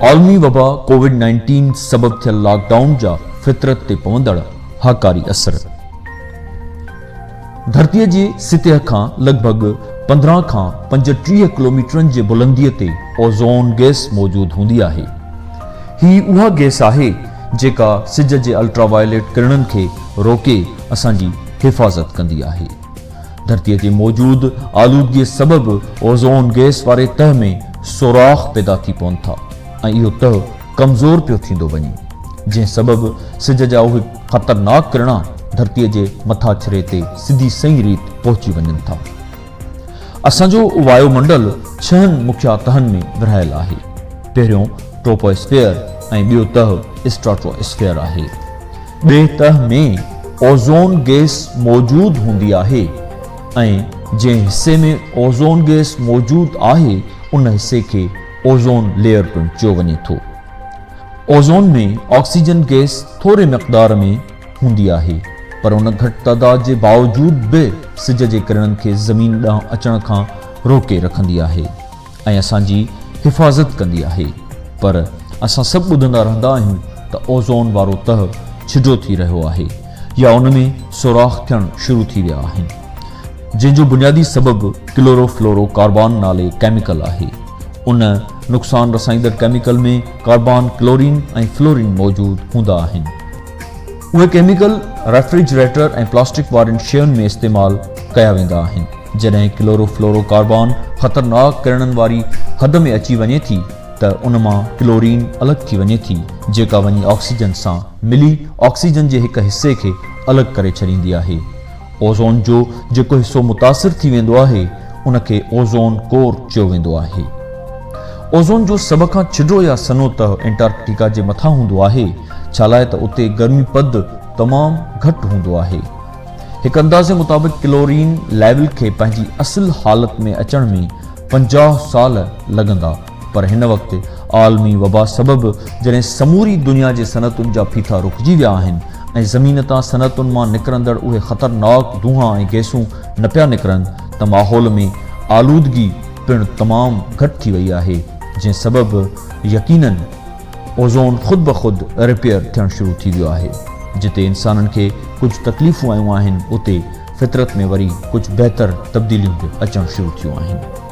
عالمي وبا covid nineteen سبب ٿيل لاڪ ڊائون جا فطرت تي پوندڙ هاڪاري اثر ڌرتيء جي سطح کان لڳ ڀڳ پندرهن کان پنجٽيهه ڪلوميٽرن جي بلنديء تي اوزون گئس موجود هوندي آهي هي اها گئس آهي جيڪا سج جي الٽرا وائليٽ ڪرڻن کي روڪي اسان جي حفاظت ڪندي آهي. ڌرتي تي موجود آلودگي سبب اوزون گئس واري تهه ۾ سوراخ پيدا ٿي پون ٿا ۽ اهو تهه ڪمزور پيو ٿيندو وڃي جنهن سبب سج جا اهي خطرناڪ ڪرڻا ڌرتي جي مٿاڇري تي سڌي سئي ريت پهچي وڃن ٿا. اسان جو وايو منڊل ڇهن مکيه تهن ۾ ورهايل آهي. پهريون ٽروپو اسفيئر ۽ ٻيو تهه اسٽراٽو اسفيئر آهي. ٻئي تهه ۾ اوزون گئس موجود هوندي آهي ۽ جنهن حصي ۾ اوزون گئس موجود آهي ان حصي کي اوزون ليئر پڻ چيو وڃي ٿو. اوزون ۾ آڪسيجن گئس ٿوري مقدار ۾ هوندي آهي پر ان گهٽ تعداد جي باوجود به سج جي ڪرڻن کي زمين ڏانهن اچڻ کان روڪي رکندي آهي ۽ اسان جي حفاظت ڪندي آهي پر اسان سڀ ٻڌندا رهندا آهيون ته اوزون وارو تهه ڇجو ٿي رهيو آهي يا ان ۾ سوراخ ٿيڻ شروع ٿي ويا آهن جنهن جو بنيادي سبب ڪلورو فلورو ڪاربان نالي ڪيميڪل آهي ان نقصان رسائيندڙ ڪيميڪل ۾ ڪاربان ڪلورين ۽ فلورين موجود هوندا آهن. اهي ڪيميڪل ريفريجريٽر ۽ پلاسٽڪ وارين شين ۾ استعمال ڪيا ويندا آهن. جڏهن ڪلورو فلورو ڪاربان خطرناڪ ڪرڻن واري حد ۾ اچي وڃي ٿي ته ان مان ڪلورين الڳ ٿي وڃي ٿي جيڪا وڃي آڪسيجن سان ملي آڪسيجن جي هڪ حصي کي الڳ ڪري ڇڏيندي آهي. اوزون جو جيڪو حصو متاثر ٿي ويندو آهي، ان کي اوزون ڪور چيو ويندو آهي. اوزون جو سڀ کان ڇڊو يا سنهو تهه انٽارڪٽيڪا جي مٿان هوندو آهي، ڇالاء ته اتي گرمي پد تمام گهٽ هوندو آهي. هڪ اندازي مطابق ڪلورين ليول کي پنهنجي اصل حالت ۾ اچڻ ۾ پنجاهه سال لڳندا. پر هن وقت عالمي وبا سبب جڏهن سموري دنيا جي صنعتن جا ڦيٿا رڪجي ويا آهن ۽ زمين تان صنعتن مان نڪرندڙ اهي خطرناڪ دونهان ۽ گئسون نه پيا نڪرن ته ماحول ۾ آلودگي پڻ تمام گهٽ ٿي وئي آهي جنهن سبب يقينن اوزون خود بخود رپيئر ٿيڻ شروع ٿي ويو آهي جتي انسانن کي ڪجهه تڪليفون آيون آهن اتي فطرت ۾ وري ڪجهه بهتر تبديليون به اچڻ شروع ٿيون آهن.